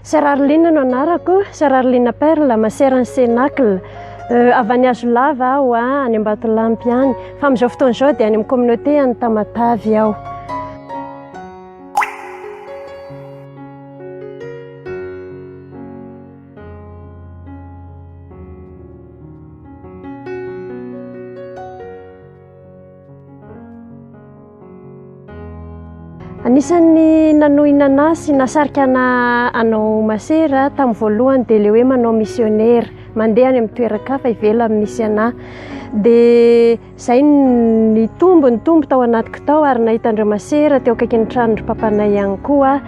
Sœur Arline no anarako, Sœur Arline Perle, ma sœur an'i Cenacle. Euh, avy any Hazolava aho, ah, any Ambatolampy any. Fa amin'izao fotoana izao dia any amin'ny communauté any Tamatavy aho. Anisan'ny nanohina anah sy nasarika anah hanao masera tamin'ny voalohany dia ilay hoe manao misionera, mandeha any amin'ny toeran-kafa ivelany misy anah. Dia izay no nitombo nitombo tao anatiko tao ary nahita an-dry masera teo akaikin'ny tranon-dry papanay ihany koa aho.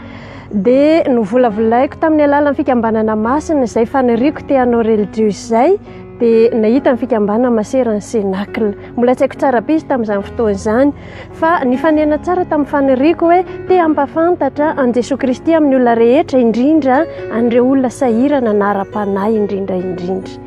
Dia novolavolaiko tamin'ny alalan'ny fikambanana masina izay faniriako te hanao relijiozy izay. dia nahita ny fikambanana masera ny Cenacle. Mbola tsy haiko tsara be izy tamin'izany fotoana izany fa nifanena tsara tamin'ny faniriako hoe te hampafantatra an'i Jesoa Kristy amin'ny olona rehetra indrindra an'ireo olona sahirana na ara-panahy indrindra indrindra.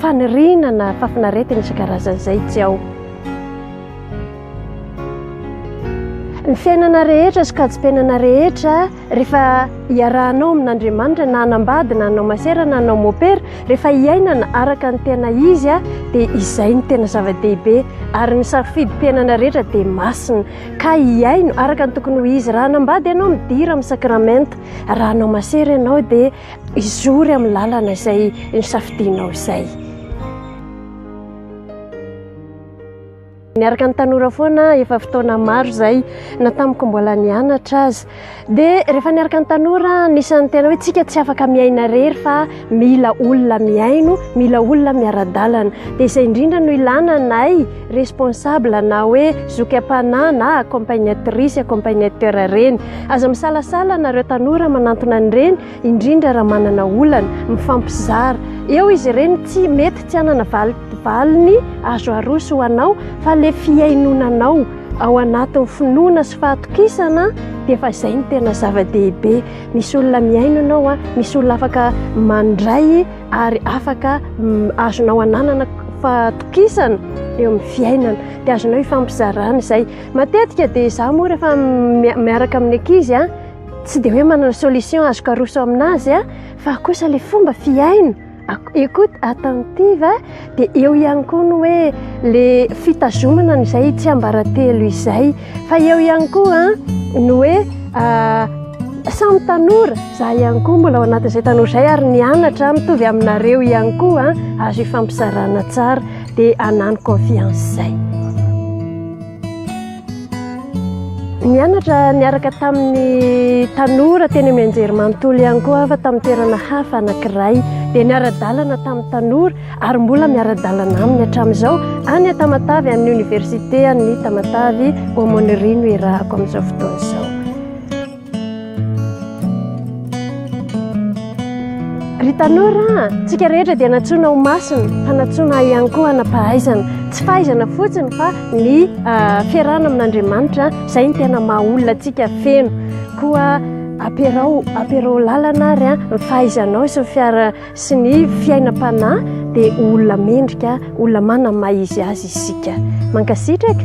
Faniriana na fahafinaretana isan-karazany izay tsy ao. Ny fiainana rehetra sy kaji-piainana rehetra rehefa iarahanao amin'Andriamanitra na hanambady na hanao masera na hanao mopera, rehefa hiainana araka ny tena izy dia izay no tena zava-dehibe ary ny safidim-piainana rehetra dia masina ka hiaino araka ny tokony ho izy. Raha hanambady ianao midira amin'ny sakramenta, raha hanao masera ianao dia hizory amin'ny lalana izay nosafidianao izay. Niaraka ny tanora foana efa fotoana maro izay na tamiko mbola nianatra aza. Dia rehefa niaraka ny tanora anisan'ny tena hoe tsika tsy afaka miaina rery fa mila olona mihaino, mila olona miara-dalana. Dia izay indrindra no ilana anay. responsable na hoe zoky am-panahy na accompagnatrice, accompagnateur ireny. Aza misalasala nareo tanora manantona an'ireny, indrindra raha manana olana, mifampizara. Eo izy ireny tsy mety tsy hanana valiny azo aroso ho anao fa ilay fihainonanao ao anatin'ny finoana sy fahatokisana dia efa izay no tena zava-dehibe. Misy olona mihaino anao, misy olona afaka mandray ary afaka azonao ananana fahatokisana eo amin'ny fiainana dia azonao ifampizarana izay matetika dia izaho moa rehefa miaraka amin'ny ankizy a tsy dia hoe manana solution azoko aroso amin'azy a fa kosa ilay fomba fiaina écoute attentive Dia eo ihany koa ny hoe le fitazomana an'izay tsiambaratelo izay. Fa eo ihany koa ny hoe samy tanora, za ihany koa mbola ao anatin'izay tanora izay ary nianatra mitovy aminareo ihany koa, azo ifampizarana tsara dia hanano confiance izay. Nianatra niaraka tamin'ny tanora teny amin'ny anjerimanontolo ihany koa aho fa tamin'ny toerana hafa anankiray. Dia niara-dalana tamin'ny tanora ary mbola miara-dalana aminy hatramin'izao any Tamatave amin'ny oniversite an'ny Tamatave Aumônerie no iarahako amin'izao fotoana izao. Ry tanora a, tsika rehetra dia nantsoina ho masina fa nantsoina ihany koa hanampahaizana. Tsy fahaizana fotsiny fa ny fiarahana amin'Andriamanitra izay no tena maha olona antsika feno. Koa ampiarao ampiarao lalana ary ny fahaizanao sy ny fiara- sy ny fiainam-panahy dia ho olona mendrika, olona manana ny maha izy azy isika. Mankasitraka.